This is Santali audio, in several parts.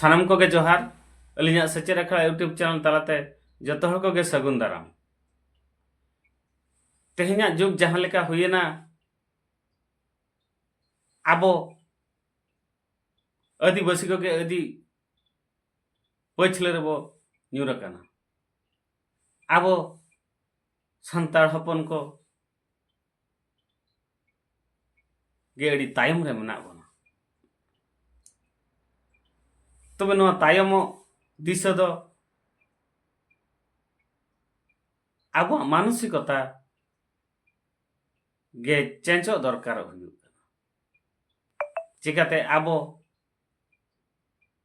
ᱥᱟᱱᱟᱢ ᱠᱚᱜᱮ ᱡᱚᱦᱟᱨ ᱟᱹᱞᱤᱧᱟᱜ ᱥᱮᱪᱮᱫ ᱟᱠᱷᱲᱟ ᱤᱭᱩᱴᱩᱵᱽ ᱪᱮᱱᱮᱞ ᱛᱟᱞᱟᱛᱮ ᱡᱚᱛᱚ ᱦᱚᱲ ᱠᱚᱜᱮ ᱥᱟᱹᱜᱩᱱ ᱫᱟᱨᱟᱢ ᱛᱮᱦᱮᱧᱟᱜ ᱡᱩᱜᱽ ᱡᱟᱦᱟᱸ ᱞᱮᱠᱟ ᱦᱩᱭᱮᱱᱟ ᱟᱵᱚ ᱟᱹᱫᱤᱵᱟᱹᱥᱤ ᱠᱚᱜᱮ ᱟᱹᱫᱤ ᱯᱟᱹᱪᱷᱞᱟᱹ ᱨᱮᱵᱚ ᱧᱩᱨ ᱟᱠᱟᱱᱟ ᱟᱵᱚ ᱥᱟᱱᱛᱟᱲ ᱦᱚᱯᱚᱱ ᱠᱚ ᱜᱮ ᱟᱹᱰᱤ ᱛᱟᱭᱚᱢ ᱨᱮ ᱢᱮᱱᱟᱜ ᱵᱚᱱᱟ ᱛᱚᱵᱮ ᱱᱚᱣᱟ ᱛᱟᱭᱚᱢᱚᱜ ᱫᱤᱥᱟᱹ ᱫᱚ ᱟᱵᱚᱣᱟᱜ ᱢᱟᱱᱚᱥᱤᱠᱚᱛᱟ ᱜᱮ ᱪᱮᱸᱡᱚᱜ ᱫᱚᱨᱠᱟᱨᱚᱜ ᱦᱩᱭᱩᱜ ᱠᱟᱱᱟ ᱪᱤᱠᱟᱹᱛᱮ ᱟᱵᱚ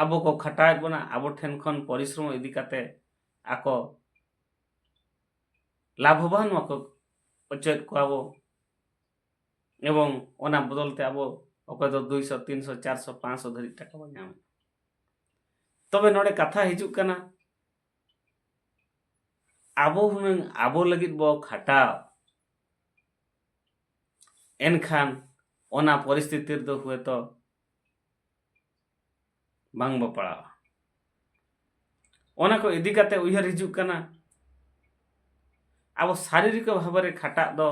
ᱟᱵᱚ ᱠᱚ ᱠᱷᱟᱴᱟᱣᱮᱫ ᱵᱚᱱᱟ ᱟᱵᱚ ᱴᱷᱮᱱ ᱠᱷᱚᱱ ᱯᱚᱨᱤᱥᱨᱚᱢ ᱤᱫᱤ ᱠᱟᱛᱮ ᱟᱠᱚ ᱞᱟᱵᱷᱚᱵᱟᱱ ᱢᱟᱠᱚ ᱚᱪᱚᱭᱮᱫ ᱠᱚᱣᱟ ᱵᱚ ᱮᱵᱚᱝ ᱚᱱᱟ ᱵᱚᱫᱚᱞ ᱛᱮ ᱟᱵᱚ ᱚᱠᱚᱭ ᱫᱚ ᱫᱩᱭᱥᱚ ᱛᱤᱱᱥᱚ ᱪᱟᱨᱥᱚ ᱯᱟᱸᱪᱥᱚ ᱫᱷᱟᱹᱨᱤᱡ ᱴᱟᱠᱟ ᱵᱚ ᱧᱟᱢᱮᱫ ᱛᱚᱵᱮ ᱱᱚᱰᱮ ᱠᱟᱛᱷᱟ ᱦᱤᱡᱩᱜ ᱠᱟᱱᱟ ᱟᱵᱚ ᱦᱩᱱᱟᱹᱝ ᱟᱵᱚ ᱞᱟᱹᱜᱤᱫ ᱵᱚ ᱠᱷᱟᱴᱟᱣ ᱮᱱᱠᱷᱟᱱ ᱚᱱᱟ ᱯᱚᱨᱤᱥᱛᱷᱤᱛᱤ ᱨᱮᱫᱚ ᱦᱚᱭᱛᱚ ᱵᱟᱝ ᱵᱚ ᱯᱟᱲᱟᱣᱟ ᱚᱱᱟ ᱠᱚ ᱤᱫᱤ ᱠᱟᱛᱮ ᱩᱭᱦᱟᱹᱨ ᱦᱤᱡᱩᱜ ᱠᱟᱱᱟ ᱟᱵᱚ ᱥᱟᱨᱤᱨᱤᱠ ᱵᱷᱟᱵᱮ ᱠᱷᱟᱴᱟᱜ ᱫᱚ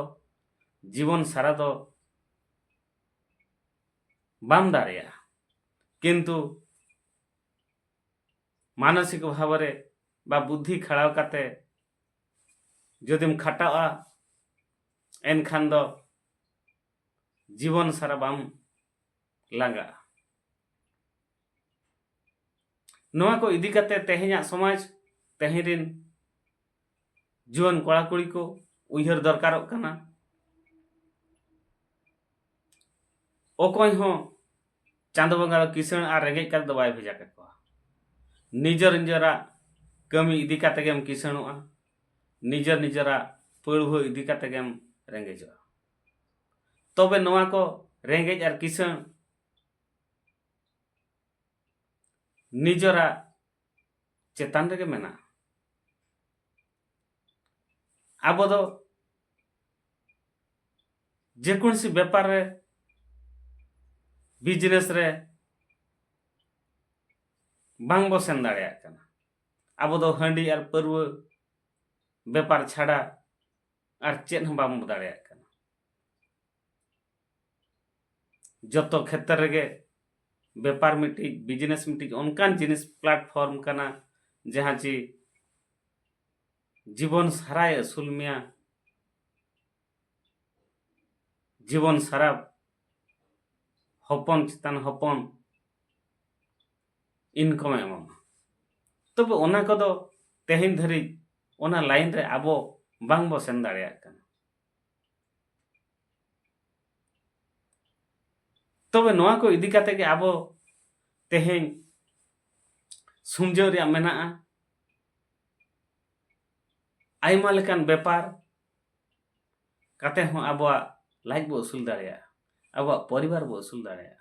ᱡᱤᱵᱚᱱ ᱥᱟᱨᱟ ᱫᱚ ᱵᱟᱢ ᱫᱟᱲᱮᱭᱟᱜᱼᱟ ᱠᱤᱱᱛᱩ ᱢᱟᱱᱚᱥᱤᱠ ᱵᱷᱟᱵᱮ ᱵᱟ ᱵᱩᱫᱽᱫᱷᱤ ᱠᱷᱟᱲᱟᱣ ᱠᱟᱛᱮ ᱡᱩᱫᱤᱢ ᱠᱷᱟᱴᱟᱜᱼᱟ ᱮᱱᱠᱷᱟᱱ ᱫᱚ ᱡᱤᱵᱚᱱ ᱥᱟᱨᱟ ᱵᱟᱢ ᱞᱟᱸᱜᱟᱜᱼᱟ ᱱᱚᱣᱟ ᱠᱚ ᱤᱫᱤ ᱠᱟᱛᱮ ᱛᱮᱦᱮᱧᱟᱜ ᱥᱚᱢᱟᱡᱽ ᱛᱮᱦᱮᱧ ᱨᱮᱱ ᱡᱩᱣᱟᱹᱱ ᱠᱚᱲᱟ ᱠᱩᱲᱤ ᱠᱚ ᱩᱭᱦᱟᱹᱨ ᱫᱚᱨᱠᱟᱨᱚᱜ ᱠᱟᱱᱟ ᱚᱠᱚᱭ ᱦᱚᱸ ᱪᱟᱸᱫᱚ ᱵᱚᱸᱜᱟ ᱫᱚ ᱠᱤᱥᱟᱹᱬ ᱟᱨ ᱨᱮᱸᱜᱮᱡ ᱠᱟᱛᱮ ᱫᱚ ᱵᱟᱭ ᱵᱷᱮᱡᱟ ᱠᱟᱠᱚᱣᱟ ᱱᱤᱡᱮᱨ ᱱᱤᱡᱮᱨᱟᱜ ᱠᱟᱹᱢᱤ ᱤᱫᱤ ᱠᱟᱛᱮ ᱜᱮᱢ ᱠᱤᱥᱟᱹᱬᱚᱜᱼᱟ ᱱᱤᱡᱮᱨ ᱱᱤᱡᱮᱨᱟᱜ ᱯᱟᱹᱲᱣᱟᱹ ᱤᱫᱤ ᱠᱟᱛᱮ ᱜᱮᱢ ᱨᱮᱸᱜᱮᱡᱚᱜᱼᱟ ᱛᱚᱵᱮ ᱱᱚᱣᱟ ᱠᱚ ᱨᱮᱸᱜᱮᱡ ᱟᱨ ᱠᱤᱥᱟᱹᱬ ᱱᱤᱡᱚᱨᱟᱜ ᱪᱮᱛᱟᱱ ᱨᱮᱜᱮ ᱢᱮᱱᱟᱜᱼᱟ ᱟᱵᱚ ᱫᱚ ᱡᱮᱠᱳᱱᱥᱤ ᱵᱮᱯᱟᱨ ᱨᱮ ᱵᱤᱡᱽᱱᱮᱥ ᱨᱮ ᱵᱟᱝ ᱵᱚ ᱥᱮᱱ ᱫᱟᱲᱮᱭᱟᱜ ᱠᱟᱱᱟ ᱟᱵᱚ ᱫᱚ ᱦᱟᱺᱰᱤ ᱟᱨ ᱯᱟᱹᱨᱣᱟᱹ ᱵᱮᱯᱟᱨ ᱪᱷᱟᱰᱟ ᱟᱨ ᱪᱮᱫ ᱦᱚᱸ ᱵᱟᱢ ᱫᱟᱲᱮᱭᱟᱜ ᱠᱟᱱᱟ ᱡᱚᱛᱚ ᱠᱷᱮᱛᱨᱮ ᱨᱮᱜᱮ ᱵᱮᱯᱟᱨ ᱢᱤᱫᱴᱤᱡ ᱵᱤᱡᱽᱱᱮᱥ ᱢᱤᱫᱴᱤᱡ ᱚᱱᱠᱟᱱ ᱡᱤᱱᱤᱥ ᱯᱞᱟᱴᱯᱷᱚᱨᱢ ᱠᱟᱱᱟ ᱡᱟᱦᱟᱸ ᱪᱮ ᱡᱤᱵᱚᱱ ᱥᱟᱨᱟᱭ ᱟᱹᱥᱩᱞ ᱢᱮᱭᱟ ᱡᱤᱵᱚᱱ ᱥᱟᱨᱟ ᱦᱚᱯᱚᱱ ᱪᱮᱛᱟᱱ ᱦᱚᱯᱚᱱ ᱤᱱᱠᱚᱢᱮ ᱮᱢᱟᱢᱟ ᱛᱚᱵᱮ ᱚᱱᱟ ᱠᱚᱫᱚ ᱛᱮᱦᱮᱧ ᱫᱷᱟᱹᱨᱤᱡ ᱚᱱᱟ ᱞᱟᱭᱤᱱ ᱨᱮ ᱟᱵᱚ ᱵᱟᱝ ᱵᱚ ᱥᱮᱱ ᱫᱟᱲᱮᱭᱟᱜ ᱠᱟᱱᱟ ᱛᱚᱵᱮ ᱱᱚᱣᱟ ᱠᱚ ᱤᱫᱤ ᱠᱟᱛᱮ ᱜᱮ ᱟᱵᱚ ᱛᱮᱦᱮᱧ ᱥᱩᱢᱡᱟᱹᱣ ᱨᱮᱭᱟᱜ ᱢᱮᱱᱟᱜᱼᱟ ᱟᱭᱢᱟ ᱞᱮᱠᱟᱱ ᱵᱮᱯᱟᱨ ᱠᱟᱛᱮ ᱦᱚᱸ ᱟᱵᱚᱣᱟᱜ ᱞᱟᱡ ᱵᱚ ᱟᱹᱥᱩᱞ ᱫᱟᱲᱮᱭᱟᱜᱼᱟ ᱟᱵᱚᱣᱟᱜ ᱯᱚᱨᱤᱵᱟᱨ ᱵᱚ ᱟᱹᱥᱩᱞ ᱫᱟᱲᱮᱭᱟᱜᱼᱟ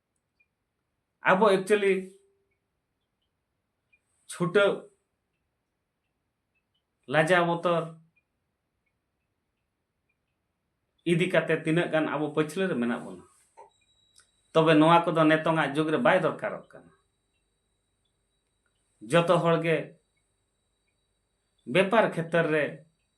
ᱟᱵᱚ ᱮᱠᱪᱩᱭᱮᱞᱤ ᱪᱷᱩᱴᱟᱹᱣ ᱞᱟᱡᱟ ᱵᱚᱛᱚᱨ ᱤᱫᱤ ᱠᱟᱛᱮ ᱛᱤᱱᱟᱹᱜ ᱜᱟᱱ ᱟᱵᱚ ᱯᱟᱹᱪᱷᱞᱟᱹ ᱨᱮ ᱢᱮᱱᱟᱜ ᱵᱚᱱᱟ ᱛᱚᱵᱮ ᱱᱚᱣᱟ ᱠᱚᱫᱚ ᱱᱤᱛᱚᱝᱟᱜ ᱡᱩᱜᱽ ᱨᱮ ᱵᱟᱭ ᱫᱚᱨᱠᱟᱨᱚᱜ ᱠᱟᱱᱟ ᱡᱚᱛᱚ ᱦᱚᱲ ᱜᱮ ᱵᱮᱯᱟᱨ ᱠᱷᱮᱛᱨᱮ ᱨᱮ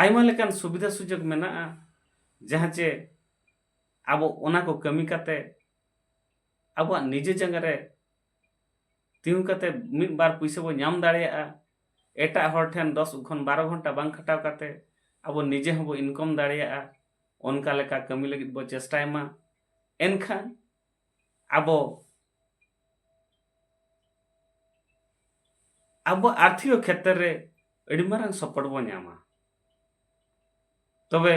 ᱟᱭᱢᱟ ᱞᱮᱠᱟᱱ ᱥᱩᱵᱤᱫᱷᱟ ᱥᱩᱡᱳᱜᱽ ᱢᱮᱱᱟᱜᱼᱟ ᱡᱟᱦᱟᱸ ᱪᱮ ᱟᱵᱚ ᱚᱱᱟ ᱠᱚ ᱠᱟᱹᱢᱤ ᱠᱟᱛᱮ ᱟᱵᱚᱣᱟᱜ ᱱᱤᱡᱮ ᱡᱟᱸᱜᱟ ᱨᱮ ᱛᱤᱸᱜᱩ ᱠᱟᱛᱮ ᱢᱤᱫ ᱵᱟᱨ ᱯᱩᱭᱥᱟᱹ ᱵᱚ ᱧᱟᱢ ᱫᱟᱲᱮᱭᱟᱜᱼᱟ ᱮᱴᱟᱜ ᱦᱚᱲ ᱴᱷᱮᱱ ᱫᱚᱥ ᱠᱷᱚᱱ ᱵᱟᱨᱚ ᱜᱷᱚᱱᱴᱟ ᱵᱟᱝ ᱠᱷᱟᱴᱟᱣ ᱠᱟᱛᱮ ᱟᱵᱚ ᱱᱤᱡᱮ ᱦᱚᱸᱵᱚ ᱤᱱᱠᱚᱢ ᱫᱟᱲᱮᱭᱟᱜᱼᱟ ᱚᱱᱠᱟ ᱞᱮᱠᱟ ᱠᱟᱹᱢᱤ ᱞᱟᱹᱜᱤᱫ ᱵᱚ ᱪᱮᱥᱴᱟᱭ ᱢᱟ ᱮᱱᱠᱷᱟᱱ ᱟᱵᱚ ᱟᱵᱚ ᱟᱨᱛᱷᱤᱠ ᱠᱷᱮᱛᱨᱮ ᱨᱮ ᱟᱹᱰᱤ ᱢᱟᱨᱟᱝ ᱥᱚᱯᱚᱨᱴ ᱵᱚ ᱧᱟᱢᱟ ᱛᱚᱵᱮ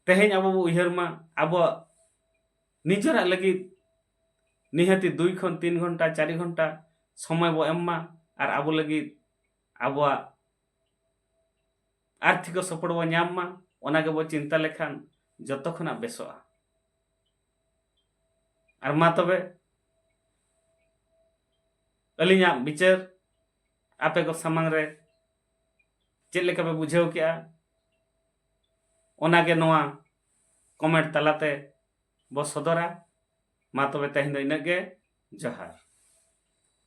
ᱛᱮᱦᱮᱧ ᱟᱵᱚ ᱵᱚ ᱩᱭᱦᱟᱹᱨ ᱢᱟ ᱟᱵᱚᱣᱟᱜ ᱱᱤᱡᱮᱨᱟᱜ ᱞᱟᱹᱜᱤᱫ ᱱᱤᱦᱟᱹᱛᱤ ᱫᱩᱭ ᱠᱷᱚᱱ ᱛᱤᱱ ᱜᱷᱚᱱᱴᱟ ᱪᱟᱨ ᱜᱷᱚᱱᱴᱟ ᱥᱚᱢᱚᱭ ᱵᱚ ᱮᱢ ᱢᱟ ᱟᱨ ᱟᱵᱚ ᱞᱟᱹᱜᱤᱫ ᱟᱵᱚᱣᱟᱜ ᱟᱨᱛᱷᱤᱠ ᱥᱚᱯᱚᱲ ᱵᱚ ᱧᱟᱢ ᱢᱟ ᱚᱱᱟ ᱜᱮᱵᱚ ᱪᱤᱱᱛᱟ ᱞᱮᱠᱷᱟᱱ ᱡᱚᱛᱚ ᱠᱷᱚᱱᱟᱜ ᱵᱮᱥᱚᱜᱼᱟ ᱟᱨ ᱢᱟ ᱛᱚᱵᱮ ᱟᱹᱞᱤᱧᱟᱜ ᱵᱤᱪᱟᱹᱨ ᱟᱯᱮ ᱠᱚ ᱥᱟᱢᱟᱝ ᱨᱮ ᱪᱮᱫ ᱞᱮᱠᱟ ᱯᱮ ᱵᱩᱡᱷᱟᱹᱣ ᱠᱮᱜᱼᱟ ᱚᱱᱟᱜᱮ ᱱᱚᱣᱟ ᱠᱚᱢᱮᱱᱴ ᱛᱟᱞᱟᱛᱮ ᱵᱚ ᱥᱚᱫᱚᱨᱟ ᱢᱟ ᱛᱚᱵᱮ ᱛᱮᱦᱮᱧ ᱫᱚ ᱤᱱᱟᱹᱜ ᱜᱮ ᱡᱚᱦᱟᱨ